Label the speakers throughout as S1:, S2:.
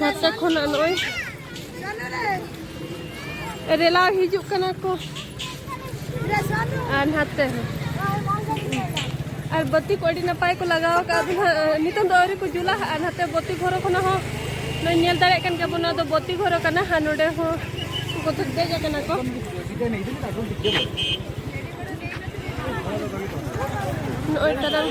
S1: ᱱᱚᱛᱮ ᱠᱷᱚᱱᱟᱜ ᱱᱚᱜᱼᱚᱭ ᱨᱮᱞᱟᱣ ᱦᱤᱡᱩᱜ ᱠᱟᱱᱟ ᱠᱚ ᱟᱨ ᱱᱟᱛᱮ ᱟᱨ ᱵᱟᱹᱛᱤ ᱠᱚ ᱟᱹᱰᱤ ᱱᱟᱯᱟᱭ ᱠᱚ ᱞᱟᱜᱟᱣ ᱟᱠᱟᱫ ᱱᱤᱛᱚᱝ ᱫᱚ ᱟᱹᱣᱨᱤ ᱠᱚ ᱡᱩᱞᱟ ᱟᱨ ᱱᱟᱛᱮ ᱵᱟᱹᱛᱤ ᱜᱷᱚᱨᱚ ᱠᱷᱚᱱᱟᱜ ᱦᱚᱸ ᱱᱚᱜᱼᱚᱭ ᱧᱮᱞ ᱫᱟᱲᱮᱭᱟᱜ ᱠᱟᱱ ᱜᱮᱭᱟᱵᱚᱱ ᱱᱚᱣᱟ ᱫᱚ ᱵᱟᱹᱛᱤ ᱜᱷᱚᱨᱚ ᱠᱟᱱᱟ ᱟᱨ ᱱᱚᱰᱮ ᱦᱚᱸ ᱠᱚ ᱫᱮᱡ ᱟᱠᱟᱱᱟ ᱠᱚ ᱱᱚᱜᱼᱚᱭ ᱛᱟᱨᱟᱝ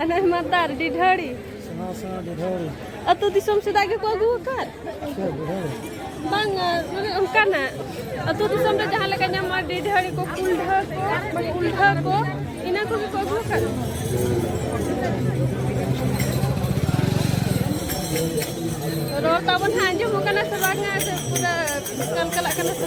S1: ᱟᱞᱮ ᱢᱟᱫᱟᱨ ᱰᱤᱰᱷᱟᱹᱲᱤ ᱥᱮᱬᱟ ᱥᱮᱬᱟ ᱰᱤᱰᱷᱟᱹᱲᱤ ᱟᱹᱛᱩ ᱫᱤᱥᱚᱢ ᱥᱮᱫᱟᱜ ᱜᱮᱠᱚ ᱟᱹᱜᱩ ᱟᱠᱟᱫ ᱵᱟᱝ ᱢᱟᱱᱮ ᱚᱱᱠᱟᱱᱟᱜ ᱟᱹᱛᱩ ᱫᱤᱥᱚᱢ ᱨᱮ ᱡᱟᱦᱟᱸ ᱞᱮᱠᱟ ᱧᱟᱢᱚᱜᱼᱟ ᱰᱤᱰᱷᱟᱹᱲᱤ ᱠᱚ ᱠᱩᱞᱰᱷᱟᱹ ᱠᱚ ᱠᱩᱞᱰᱷᱟᱹ ᱠᱚ ᱤᱱᱟᱹ ᱠᱚᱜᱮ ᱠᱚ ᱟᱹᱜᱩ ᱟᱠᱟᱫ ᱨᱚᱲ ᱛᱟᱵᱚᱱ ᱦᱟᱸᱜ ᱟᱸᱡᱚᱢᱚᱜ ᱠᱟᱱᱟ ᱥᱮ ᱵᱟᱝᱟ ᱥᱮ ᱯᱩᱨᱟᱹ ᱠᱟᱞᱠᱟᱞᱟᱜ ᱠᱟᱱᱟ ᱥᱮ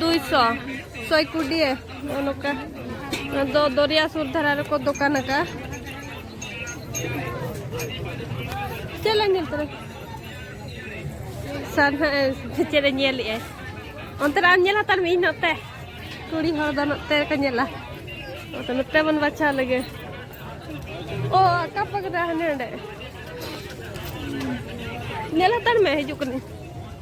S1: ᱫᱩᱭᱥᱚ ᱥᱚᱭ ᱠᱩᱰᱤᱭᱮ ᱱᱚᱝᱠᱟ ᱫᱚ ᱫᱚᱨᱭᱟ ᱥᱩᱨ ᱫᱷᱟᱨᱟ ᱨᱮᱠᱚ ᱫᱚᱠᱟᱱ ᱟᱠᱟᱫᱼᱟ ᱪᱮᱫ ᱞᱮ ᱧᱮᱞ ᱛᱚᱨᱟ ᱥᱟᱨ ᱦᱟᱸᱜ ᱪᱮᱫ ᱮ ᱧᱮᱞᱮᱜᱼᱟᱭ ᱚᱱᱛᱮ ᱨᱮ ᱟᱢ ᱧᱮᱞ ᱦᱟᱛᱟᱲ ᱢᱮ ᱤᱧ ᱱᱚᱛᱮ ᱠᱩᱲᱤ ᱦᱚᱲ ᱫᱚ ᱱᱚᱛᱮ ᱨᱮᱠᱚ ᱧᱮᱞᱟ ᱱᱚᱛᱮ ᱱᱚᱛᱮ ᱵᱚᱱ ᱵᱟᱪᱷᱟᱣ ᱞᱮᱜᱮ ᱚ ᱟᱠᱟ ᱯᱟᱠᱫᱟ ᱦᱟᱱᱮ ᱚᱸᱰᱮ ᱧᱮᱞ ᱦᱟᱛᱟᱲ ᱢᱮ ᱦᱤᱡᱩᱜ ᱠᱟᱹᱱᱟᱹᱧ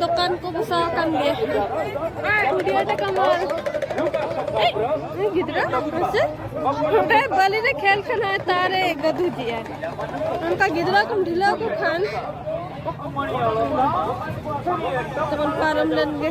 S1: ᱫᱚᱠᱟᱱ ᱠᱚ ᱵᱚᱥᱟᱣ ᱟᱠᱟᱱ ᱜᱮᱭᱟ ᱵᱷᱤᱰᱤᱭᱳ ᱨᱮ ᱠᱟᱢᱟᱞ ᱜᱤᱫᱽᱨᱟᱹ ᱦᱮᱸᱥᱮ ᱚᱸᱰᱮ ᱵᱟᱹᱞᱤ ᱨᱮ ᱠᱷᱮᱞ ᱠᱷᱟᱱ ᱦᱚᱸ ᱛᱟᱨᱮ ᱜᱟᱹᱫᱩ ᱫᱤᱭᱟ ᱚᱱᱠᱟ ᱜᱤᱫᱽᱨᱟᱹ ᱠᱚᱢ ᱰᱷᱤᱞᱟᱹᱣ ᱠᱚ ᱠᱷᱟᱱ ᱛᱮᱵᱚᱱ ᱯᱟᱨᱚᱢ ᱞᱮᱱ ᱜᱮ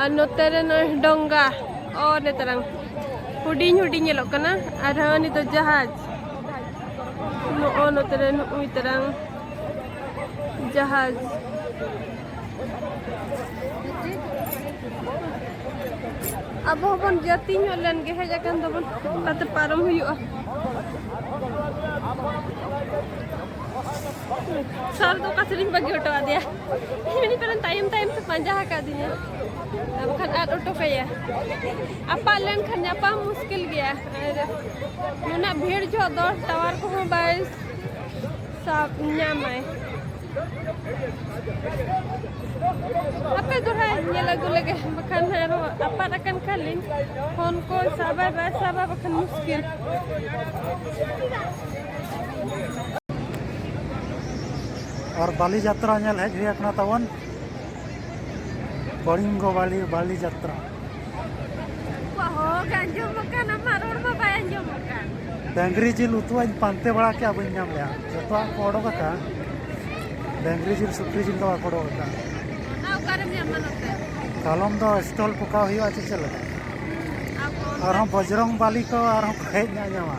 S1: ᱟᱨ ᱱᱚᱛᱮ ᱨᱮ ᱱᱚᱜᱼᱚᱭ ᱰᱚᱝᱜᱟ ᱚ ᱨᱮ ᱛᱟᱨᱟᱝ ᱦᱩᱰᱤᱧ ᱦᱩᱰᱤᱧ ᱧᱮᱞᱚᱜ ᱠᱟᱱᱟ ᱟᱨᱦᱚᱸ ᱱᱤᱛᱚᱜ ᱡᱟᱦᱟᱡᱽ ᱱᱚᱜᱼᱚ ᱱᱚᱛᱮ ᱨᱮ ᱱᱩᱭ ᱛᱟᱨᱟᱝ ᱡᱟᱦᱟᱡᱽ ᱟᱵᱚ ᱦᱚᱸᱵᱚᱱ ᱡᱟᱹᱛᱤ ᱧᱚᱜ ᱞᱮᱱ ᱜᱮ ᱦᱮᱡ ᱟᱠᱟᱱ ᱫᱚᱵᱚᱱ ᱛᱟᱛᱮ ᱯᱟᱨᱚᱢ ᱦᱩᱭᱩᱜᱼᱟ ᱥᱚᱨ ᱫᱚ ᱚᱠᱟ ᱥᱮᱨᱮᱧ ᱵᱟᱹᱜᱤ ᱦᱚᱴᱚ ᱟᱫᱮᱭᱟ ᱢᱮᱱᱤ ᱯᱟᱨᱮᱱ ᱛᱟᱭᱚᱢ ᱛᱟᱭᱚᱢ ᱛᱮ ᱯᱟᱸᱡᱟ ᱟᱠᱟᱫᱤᱧᱟ ᱟᱨ ᱵᱟᱠᱷᱟᱱ ᱟᱫ ᱦᱚᱴᱚ ᱠᱟᱭᱟ ᱟᱯᱟᱜ ᱞᱮᱱᱠᱷᱟᱱ ᱧᱟᱯᱟᱢ ᱢᱩᱥᱠᱤᱞ ᱜᱮᱭᱟ ᱟᱨ ᱱᱩᱱᱟᱹᱜ ᱵᱷᱤᱲ ᱡᱚᱦᱚᱜ ᱫᱚ ᱴᱟᱣᱟᱨ ᱠᱚᱦᱚᱸ ᱵᱟᱭ ᱥᱟᱵ ᱧᱟᱢᱟᱭ ᱟᱯᱮ ᱫᱚ ᱦᱟᱸᱜ ᱧᱮᱞ ᱟᱹᱜᱩ ᱞᱮᱜᱮ ᱵᱟᱠᱷᱟᱱ ᱟᱨᱚ ᱟᱯᱟᱫ ᱟᱠᱟᱱ ᱠᱷᱟᱱ ᱞᱤᱧ ᱯᱷᱳᱱ ᱠᱚ ᱥᱟᱵᱟᱭ ᱵᱟᱭ ᱥᱟᱵᱟ ᱵᱟᱠᱷᱟᱱ ᱢᱩᱥᱠᱤᱞ
S2: ᱟᱨ ᱵᱟᱞᱤ ᱡᱟᱛᱨᱟ ᱧᱮᱞ ᱦᱮᱡ ᱦᱩᱭ ᱟᱠᱟᱱᱟ ᱛᱟᱵᱚᱱ ᱠᱚᱲᱤᱝᱜᱚ ᱵᱟᱞᱤ ᱵᱟᱞᱤ ᱡᱟᱛᱨᱟ
S1: ᱰᱟᱝᱨᱤ ᱡᱤᱞ
S2: ᱩᱛᱩᱣᱟᱧ ᱯᱟᱱᱛᱮ ᱵᱟᱲᱟ ᱠᱮᱫᱼᱟ ᱵᱟᱹᱧ ᱧᱟᱢ ᱞᱮᱫᱼᱟ ᱡᱚᱛᱚᱣᱟᱜ ᱠᱚ ᱚᱰᱚᱠ ᱟᱠᱟᱫᱼᱟ ᱰᱟᱝᱨᱤ ᱡᱤᱞ ᱥᱩᱠᱨᱤ ᱡᱤᱞ ᱫᱚ ᱵᱟᱠᱚ ᱚᱰᱚᱠ ᱟᱠᱟᱫᱼᱟ
S1: ᱠᱟᱞᱚᱢ ᱫᱚ
S2: ᱥᱴᱚᱞ ᱯᱚᱠᱟᱣ ᱦᱩᱭᱩᱜᱼᱟ ᱪᱮ ᱪᱮᱫ ᱞᱮᱠᱟ ᱟᱨᱦᱚᱸ ᱵᱚᱡᱽᱨᱚᱝ ᱵᱟᱞᱤ ᱠᱚ ᱟᱨᱦᱚᱸ ᱦᱮᱡ ᱧᱟᱢᱟ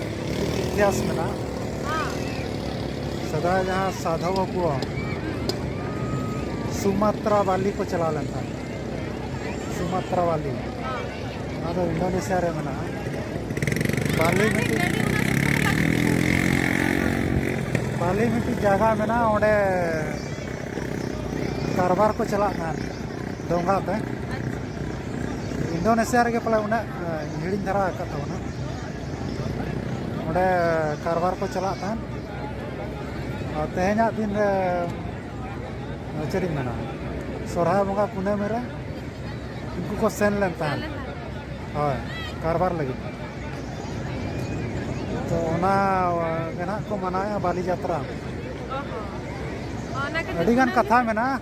S2: ᱤᱛᱤᱦᱟᱥ ᱢᱮᱱᱟᱜᱼᱟ ᱥᱮᱫᱟᱭ ᱡᱟᱦᱟᱸ ᱥᱟᱫᱷᱚᱵ ᱠᱚ ᱥᱩᱢᱟᱛᱨᱟ ᱵᱟᱞᱤ ᱠᱚ ᱪᱟᱞᱟᱣ ᱞᱮᱱ ᱛᱟᱦᱮᱸᱫ ᱥᱩᱢᱟᱛᱨᱟ ᱵᱟᱞᱤ ᱚᱱᱟ ᱫᱚ ᱤᱱᱰᱳᱱᱮᱥᱤᱭᱟ ᱨᱮ ᱢᱮᱱᱟᱜᱼᱟ ᱵᱟᱞᱤ ᱢᱤᱫᱴᱤᱡ ᱵᱟᱞᱤ ᱢᱤᱫᱴᱤᱡ ᱡᱟᱭᱜᱟ ᱢᱮᱱᱟᱜᱼᱟ ᱚᱸᱰᱮ ᱠᱟᱨᱵᱟᱨ ᱠᱚ ᱪᱟᱞᱟᱜ ᱠᱟᱱ ᱰᱚᱸᱜᱟ ᱛᱮ ᱤᱱᱰᱳᱱᱮᱥᱤᱭᱟ ᱨᱮᱜᱮ ᱯᱟᱞᱮ ᱩᱱᱟᱹᱜ ᱦᱤᱲᱤᱧ ᱫᱷᱟᱨᱟ ᱟᱠᱟᱫ ᱛᱟᱵᱚᱱᱟ ᱚᱸᱰᱮ ᱠᱟᱨᱵᱟᱨ ᱠᱚ ᱪᱟᱞᱟᱜ ᱛᱟᱦᱮᱸᱫ ᱟᱨ ᱛᱮᱦᱮᱧᱟᱜ ᱫᱤᱱ ᱨᱮ ᱪᱮᱫ ᱤᱧ ᱢᱮᱱᱟ ᱥᱚᱨᱦᱟᱭ ᱵᱚᱸᱜᱟ ᱠᱩᱱᱟᱹᱢᱤ ᱨᱮ ᱩᱱᱠᱩ ᱠᱚ ᱥᱮᱱ ᱞᱮᱱ ᱛᱟᱦᱮᱸᱫ ᱦᱳᱭ ᱠᱟᱨᱵᱟᱨ ᱞᱟᱹᱜᱤᱫ ᱛᱚ ᱚᱱᱟ ᱜᱮ ᱱᱟᱦᱟᱜ ᱠᱚ ᱢᱟᱱᱟᱣᱮᱫᱼᱟ ᱵᱟᱹᱞᱤ ᱡᱟᱛᱨᱟ ᱟᱹᱰᱤᱜᱟᱱ ᱠᱟᱛᱷᱟ ᱢᱮᱱᱟᱜᱼᱟ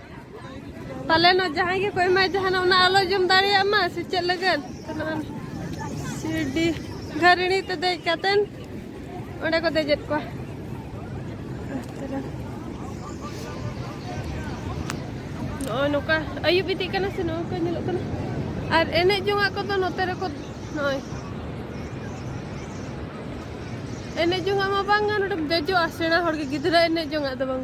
S1: ᱯᱟᱞᱮᱱᱚᱜ ᱡᱟᱦᱟᱸᱭ ᱜᱮᱠᱚ ᱮᱢᱟᱭ ᱡᱟᱦᱟᱱᱟᱜ ᱚᱱᱟ ᱟᱞᱚ ᱡᱚᱢ ᱫᱟᱲᱮᱭᱟᱜ ᱢᱟ ᱥᱮ ᱪᱮᱫ ᱞᱟᱹᱜᱤᱫ ᱥᱤᱨᱰᱤ ᱜᱷᱟᱹᱨᱤᱬᱤ ᱛᱮ ᱫᱮᱡ ᱠᱟᱛᱮᱱ ᱚᱸᱰᱮ ᱠᱚ ᱫᱮᱡᱮᱫ ᱠᱚᱣᱟ ᱱᱚᱜᱼᱚᱭ ᱱᱚᱝᱠᱟ ᱟᱹᱭᱩᱵ ᱤᱫᱤᱜ ᱠᱟᱱᱟ ᱥᱮ ᱱᱚᱜᱼᱚᱭ ᱠᱚ ᱧᱮᱞᱚᱜ ᱠᱟᱱᱟ ᱟᱨ ᱮᱱᱮᱡ ᱡᱚᱝᱟᱜ ᱠᱚᱫᱚ ᱱᱚᱛᱮ ᱨᱮᱠᱚ ᱱᱚᱜᱼᱚᱭ ᱮᱱᱮᱡ ᱡᱚᱝᱟᱜ ᱢᱟ ᱵᱟᱝᱟ ᱱᱚᱰᱮᱢ ᱫᱮᱡᱚᱜᱼᱟ ᱥᱮᱬᱟ ᱦᱚᱲ ᱜᱮ ᱜᱤᱫᱽᱨᱟᱹ ᱮᱱᱮᱡ ᱡᱚᱝᱟᱜ ᱫᱚ ᱵᱟᱝ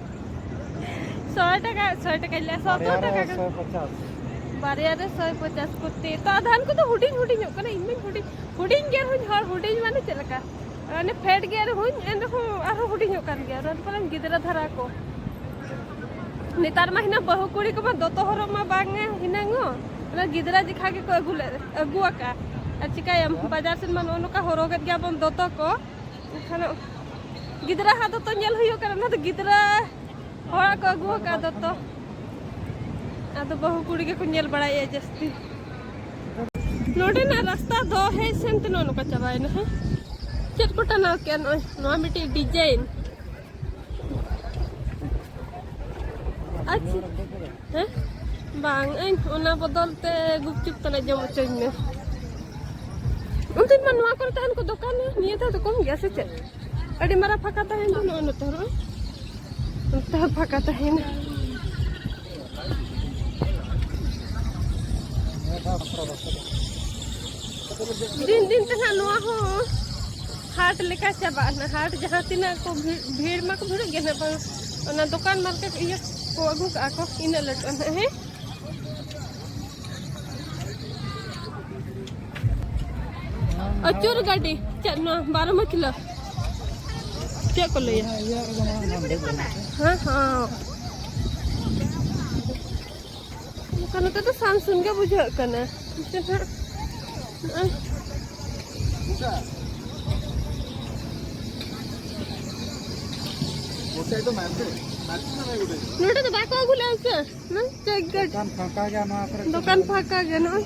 S1: ᱥᱚᱭ ᱴᱟᱠᱟ ᱥᱚᱭ ᱴᱟᱠᱟ ᱞᱮ ᱥᱚᱛᱚᱨ ᱴᱟᱠᱟ ᱥᱚᱭ ᱯᱚᱪᱟᱥ
S2: ᱵᱟᱨᱭᱟ ᱨᱮ
S1: ᱥᱚᱭ ᱯᱚᱪᱟᱥ ᱠᱚᱛᱮ ᱛᱚ ᱟᱫᱷᱟᱱ ᱠᱚᱫᱚ ᱦᱩᱰᱤᱧ ᱦᱩᱰᱤᱧᱚᱜ ᱠᱟᱱᱟ ᱤᱧ ᱢᱟᱧ ᱦᱩᱰᱤᱧ ᱦᱩᱰᱤᱧ ᱜᱮ ᱨᱮᱦᱚᱸᱧ ᱦᱚᱲ ᱦᱩᱰᱤᱧ ᱢᱟᱱᱮ ᱪᱮᱫ ᱞᱮᱠᱟ ᱢᱟᱱᱮ ᱯᱷᱮᱰ ᱜᱮ ᱨᱮᱦᱚᱸᱧ ᱮᱱ ᱨᱮᱦᱚᱸ ᱟᱨᱦᱚᱸ ᱦᱩᱰᱤᱧᱚᱜ ᱠᱟᱱ ᱜᱮᱭᱟ ᱨᱟᱱ ᱯᱟᱞᱮᱱ ᱜᱤᱫᱽᱨᱟᱹ ᱫᱷᱟᱨᱟ ᱠᱚ ᱱᱮᱛᱟᱨ ᱢᱟ ᱦᱤᱱᱟᱹ ᱵᱟᱹᱦᱩ ᱠᱩᱲᱤ ᱠᱚᱢᱟ ᱫᱚᱛᱚ ᱦᱚᱨᱚᱜ ᱢᱟ ᱵᱟᱝ ᱦᱤᱱᱟᱹᱝ ᱚᱱᱟ ᱜᱤᱫᱽᱨᱟᱹ ᱡᱮᱠᱷᱟ ᱜᱮᱠᱚ ᱟᱹᱜᱩ ᱞᱮᱫ ᱟᱹᱜᱩ ᱟᱠᱟᱫᱼᱟ ᱟᱨ ᱪᱤᱠᱟᱹᱭᱟᱢ ᱵᱟᱡᱟᱨ ᱥᱮᱱ ᱢᱟ ᱱᱚᱜᱼᱚ ᱱᱚᱝᱠᱟ ᱦᱚᱨᱚᱜᱮᱫ ᱜᱮᱭᱟᱵᱚᱱ ᱫᱚᱛᱚ ᱠᱚ ᱮᱱᱠᱷᱟᱱ ᱜᱤᱫᱽᱨᱟᱹ ᱦᱟᱸᱜ ᱫᱚᱛᱚ ᱧᱮᱞ ᱦᱩᱭᱩᱜ ᱠᱟᱱᱟ ᱚᱱᱟ ᱫᱚ ᱜᱤᱫᱽᱨᱟᱹ ᱦᱚᱲᱟᱜ ᱠᱚ ᱟᱹᱜᱩ ᱟᱠᱟᱫ ᱫᱚᱛᱚ ᱟᱫᱚ ᱵᱟᱹᱦᱩ ᱠᱩᱲᱤ ᱜᱮᱠᱚ ᱧᱮᱞ ᱵᱟᱲᱟᱭᱮᱫᱼᱟ ᱡᱟᱹᱥᱛᱤ ᱱᱚᱰᱮᱱᱟᱜ ᱨᱟᱥᱛᱟ ᱫᱚ ᱦᱮᱡ ᱥᱮᱱᱛᱮ ᱱᱚᱜᱼᱚ ᱱᱚᱝᱠᱟ ᱪᱟᱵᱟᱭᱮᱱᱟ ᱦᱮᱸ ᱪᱮᱫ ᱠᱚ ᱴᱟᱱᱟᱣ ᱠᱮᱫᱼᱟ ᱱᱚᱜᱼᱚᱭ ᱱᱚᱣᱟ ᱢᱤᱫᱴᱤᱡ ᱰᱤᱡᱟᱭᱤᱱ ᱟᱪᱪᱷᱟ ᱦᱮᱸ ᱵᱟᱝ ᱤᱧ ᱚᱱᱟ ᱵᱚᱫᱚᱞ ᱛᱮ ᱜᱩᱯᱪᱩᱯ ᱛᱟᱞᱮ ᱡᱚᱢ ᱦᱚᱪᱚᱧ ᱢᱮ ᱩᱱᱫᱤᱱ ᱢᱟ ᱱᱚᱣᱟ ᱠᱚᱨᱮ ᱛᱟᱦᱮᱱ ᱠᱚ ᱫᱚᱠᱟᱱ ᱱᱤᱭᱟᱹ ᱫᱷᱟᱣ ᱫᱚ ᱠᱚᱢ ᱜᱮᱭᱟ ᱥᱮ ᱪᱮᱫ ᱟᱹᱰᱤ ᱢᱟᱨᱟᱝ ᱯᱷᱟᱸᱠᱟ ᱛᱟᱦᱮᱱ ᱫᱚ ᱱᱚᱜᱼᱚᱭ ᱱᱚᱛᱮ ᱦᱚᱸ ᱱᱚᱛᱮ ᱦᱚᱸ ᱯᱷᱟᱸᱠᱟ ᱛᱟᱦᱮᱱᱟ ᱫᱤᱱ ᱫᱤᱱ ᱛᱮ ᱦᱟᱸᱜ ᱱᱚᱣᱟ ᱦᱚᱸ ᱦᱟᱴ ᱞᱮᱠᱟ ᱪᱟᱵᱟᱜ ᱱᱟ ᱦᱟᱴ ᱡᱟᱦᱟᱸ ᱛᱤᱱᱟᱹᱜ ᱠᱚ ᱵᱷᱤᱲ ᱢᱟᱠᱚ ᱵᱷᱤᱲᱚᱜ ᱜᱮ ᱱᱟᱜ ᱵᱟᱝ ᱚᱱᱟ ᱫᱚᱠᱟᱱ ᱢᱟᱨᱠᱮᱴ ᱤᱭᱟᱹ ᱠᱚ ᱟᱹᱜᱩ ᱠᱟᱜᱼᱟ ᱠᱚ ᱤᱱᱟᱹᱜ ᱞᱟᱹᱴᱩᱜᱼᱟ ᱱᱟᱜ ᱦᱮᱸ ᱟᱹᱪᱩᱨ ᱜᱟᱹᱰᱤ ᱪᱮᱫ ᱱᱚᱣᱟ ᱵᱟᱨᱚ ᱢᱟᱹᱪᱞᱟᱹ ᱪᱮᱫ ᱠᱚ ᱞᱟᱹᱭᱟ ᱦᱮᱸ ᱦᱮᱸ ᱵᱟᱠᱷᱟᱱ ᱱᱚᱛᱮ ᱫᱚ ᱥᱟᱱ ᱥᱩᱱ ᱜᱮ ᱵᱩᱡᱷᱟᱹᱜ ᱠᱟᱱᱟ ᱱᱚᱛᱮ ᱦᱟᱸᱜ ᱱᱚᱰᱮ ᱫᱚ ᱵᱟᱠᱚ ᱟᱹᱜᱩ ᱞᱮᱫᱟ ᱥᱮ ᱫᱚᱠᱟᱱ ᱯᱷᱟᱸᱠᱟ ᱜᱮᱭᱟ
S2: ᱱᱚᱣᱟ ᱠᱚᱨᱮ ᱫᱚᱠᱟᱱ ᱯᱷᱟᱸᱠᱟ ᱜᱮᱭᱟ
S1: ᱱᱚᱜᱼᱚᱭ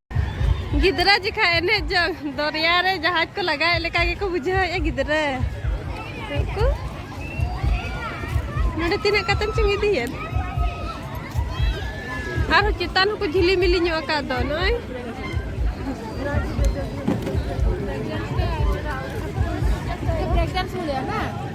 S1: ᱜᱤᱫᱽᱨᱟᱹ ᱡᱮᱠᱷᱟ ᱮᱱᱮᱡ ᱡᱚᱝ ᱫᱚᱨᱭᱟ ᱨᱮ ᱡᱟᱦᱟᱡ ᱠᱚ ᱞᱟᱜᱟᱣᱮᱫ ᱞᱮᱠᱟ ᱜᱮᱠᱚ ᱵᱩᱡᱷᱟᱹᱣᱮᱫᱼᱟ ᱜᱤᱫᱽᱨᱟᱹ ᱠᱚ ᱱᱚᱰᱮ ᱛᱤᱱᱟᱹᱜ ᱠᱟᱛᱮᱢ ᱪᱚᱝ ᱤᱫᱤᱭᱮᱫ ᱟᱨᱦᱚᱸ ᱪᱮᱛᱟᱱ ᱦᱚᱸᱠᱚ ᱡᱷᱤᱞᱤ ᱢᱤᱞᱤ ᱧᱚᱜ ᱟᱠᱟᱫ ᱫᱚ ᱱᱚᱜᱼᱚᱭ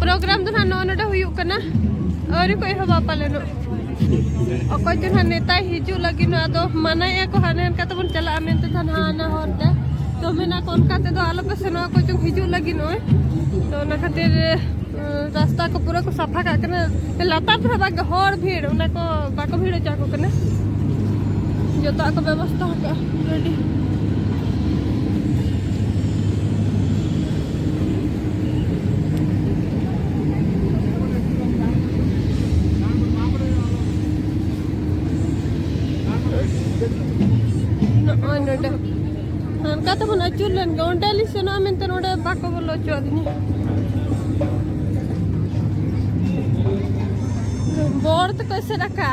S1: ᱯᱨᱳᱜᱨᱟᱢ ᱫᱚ ᱱᱟᱦᱟᱜ ᱱᱚᱜᱼᱚ ᱱᱚᱰᱮ ᱦᱩᱭᱩᱜ ᱠᱟᱱᱟ ᱟᱹᱣᱨᱤ ᱠᱚ ᱮᱦᱚᱵᱟ ᱯᱟᱞᱮᱱᱚᱜ ᱚᱠᱚᱭ ᱪᱚ ᱱᱟᱦᱟᱜ ᱱᱮᱛᱟᱭ ᱦᱤᱡᱩᱜ ᱞᱟᱹᱜᱤᱫ ᱟᱫᱚ ᱢᱟᱱᱟᱭᱮᱫᱼᱟ ᱠᱚ ᱦᱟᱱᱮ ᱦᱟᱱᱠᱟ ᱛᱮᱵᱚᱱ ᱪᱟᱞᱟᱜᱼᱟ ᱢᱮᱱᱛᱮ ᱱᱟᱦᱟᱜ ᱦᱟᱱᱟ ᱦᱚᱨ ᱛᱮ ᱛᱚ ᱢᱮᱱᱟ ᱠᱚ ᱚᱱᱠᱟ ᱛᱮᱫᱚ ᱟᱞᱚᱯᱮ ᱥᱮᱱᱚᱜᱼᱟ ᱚᱠᱚᱭ ᱪᱚᱝ ᱦᱤᱡᱩᱜ ᱞᱟᱹᱜᱤᱫ ᱱᱚᱜᱼᱚᱭ ᱛᱚ ᱚᱱᱟ ᱠᱷᱟᱹᱛᱤᱨ ᱨᱟᱥᱛᱟ ᱠᱚ ᱯᱩᱨᱟᱹ ᱠᱚ ᱥᱟᱯᱷᱟ ᱠᱟᱜ ᱠᱟᱱᱟ ᱞᱟᱛᱟᱨ ᱫᱚ ᱵᱟᱝ ᱦᱚᱲ ᱵᱷᱤᱲ ᱚᱱᱟ ᱠᱚ ᱵᱟᱠᱚ ᱵᱷᱤᱲ ᱦᱚᱪᱚ ᱟᱠᱚ ᱠᱟᱱᱟ ᱡᱚᱛᱚᱣᱟᱜ ᱠᱚ ᱵᱮᱵᱚᱥᱛᱷᱟ ᱟᱠᱟᱫᱼᱟ ᱟᱹᱰᱤ ᱪᱩᱨᱞᱮᱱ ᱜᱮ ᱚᱸᱰᱮ ᱞᱤᱧ ᱥᱮᱱᱚᱜᱼᱟ ᱢᱮᱱᱛᱮ ᱚᱸᱰᱮ ᱵᱟᱠᱚ ᱵᱚᱞᱚ ᱦᱚᱪᱚᱣᱟᱫᱤᱧᱟ ᱵᱚᱲ ᱛᱮᱠᱚ ᱮᱥᱮᱫ ᱟᱠᱟᱜᱼᱟ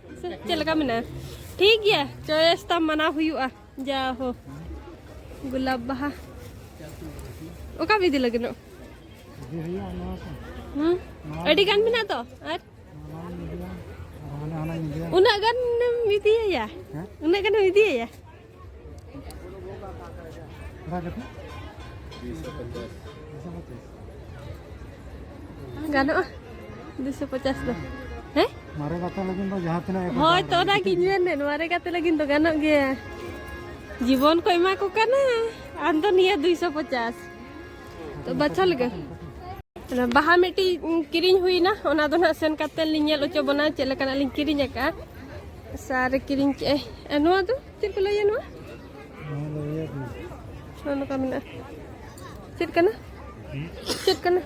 S1: ᱪᱮᱫ ᱞᱮᱠᱟ ᱢᱮᱱᱟᱜᱼᱟ ᱴᱷᱤᱠ ᱜᱮᱭᱟ ᱪᱚᱭᱮᱥ ᱛᱟᱢ ᱢᱟᱱᱟᱣ ᱦᱩᱭᱩᱜᱼᱟ ᱡᱟ ᱦᱳ ᱜᱩᱞᱟᱵ ᱵᱟᱦᱟ ᱚᱠᱟ ᱵᱤᱫᱤ ᱞᱟᱹᱜᱤᱫᱚᱜ ᱦᱩᱸ ᱟᱹᱰᱤ ᱜᱟᱱ ᱢᱮᱱᱟᱜ ᱛᱚ ᱟᱨ ᱩᱱᱟᱹᱜ ᱜᱟᱱᱮᱢ ᱤᱫᱤᱭᱟᱭᱟ ᱩᱱᱟᱹᱜ ᱜᱟᱱᱮᱢ ᱤᱫᱤᱭᱟᱭᱟ ᱜᱟᱱᱚᱜᱼᱟ ᱫᱩᱥᱚ ᱯᱚᱪᱟᱥ ᱫᱚ ᱦᱮᱸ ᱢᱟᱨᱮ ᱜᱟᱛᱮ ᱞᱟᱹᱜᱤᱫ
S2: ᱫᱚ ᱡᱟᱦᱟᱸ ᱛᱤᱱᱟᱹᱜ ᱦᱳᱭ ᱛᱚ ᱚᱱᱟ ᱜᱤᱧ
S1: ᱢᱮᱱᱮᱫ ᱢᱟᱨᱮ ᱜᱟᱛᱮ ᱞᱟᱹᱜᱤᱫ ᱫᱚ ᱜᱟᱱᱚᱜ ᱜᱮᱭᱟ ᱡᱤᱵᱚᱱ ᱠᱚ ᱮᱢᱟ ᱠᱚ ᱠᱟᱱᱟ ᱟᱢ ᱫᱚ ᱱᱤᱭᱟᱹ ᱫᱩᱭᱥᱚ ᱯᱚᱪᱟᱥ ᱛᱚ ᱵᱟᱪᱷᱟ ᱞᱮᱜᱮ ᱵᱟᱦᱟ ᱢᱤᱫᱴᱤᱡ ᱠᱤᱨᱤᱧ ᱦᱩᱭᱱᱟ ᱚᱱᱟ ᱫᱚ ᱱᱟᱜ ᱥᱮᱱ ᱠᱟᱛᱮ ᱞᱤᱧ ᱧᱮᱞ ᱦᱚᱪᱚ ᱵᱚᱱᱟ ᱪᱮᱫ ᱞᱮᱠᱟᱱᱟᱜ ᱞᱤᱧ ᱠᱤᱨᱤᱧ ᱟᱠᱟᱫᱼᱟ ᱥᱟᱨᱮ ᱠᱤᱨᱤᱧ ᱠᱮᱜᱼᱟᱭ ᱟᱨ ᱱᱚᱣᱟ ᱫᱚ ᱪᱮᱫ ᱠᱚ ᱞᱟᱹᱭᱟ ᱱᱚᱣᱟ ᱱᱚᱣᱟ ᱱᱚᱝᱠᱟ ᱢᱮᱱᱟᱜᱼᱟ ᱪᱮᱫ ᱠᱟᱱᱟ ᱪᱮᱫ ᱠᱟᱱᱟ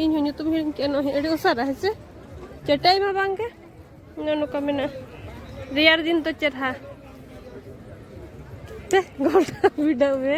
S1: ᱤᱧ ᱦᱚᱸ ᱧᱩᱛᱩᱢ ᱦᱤᱲᱤᱧ ᱠᱮᱜᱼᱟ ᱱᱚᱜᱼᱚᱭ ᱟᱹᱰᱤ ᱩᱥᱟᱹᱨᱟ ᱦᱮᱸ ᱥᱮ ᱪᱟᱴᱟᱭ ᱢᱟ ᱵᱟᱝ ᱜᱮ ᱱᱚᱜᱼᱚ ᱱᱚᱝᱠᱟ ᱢᱮᱱᱟᱜᱼᱟ ᱨᱮᱭᱟᱲ ᱫᱤᱱ ᱫᱚ ᱪᱮᱨᱦᱟ ᱛᱮ ᱜᱚᱞᱴᱟ ᱵᱤᱰᱟᱹᱣ ᱢᱮ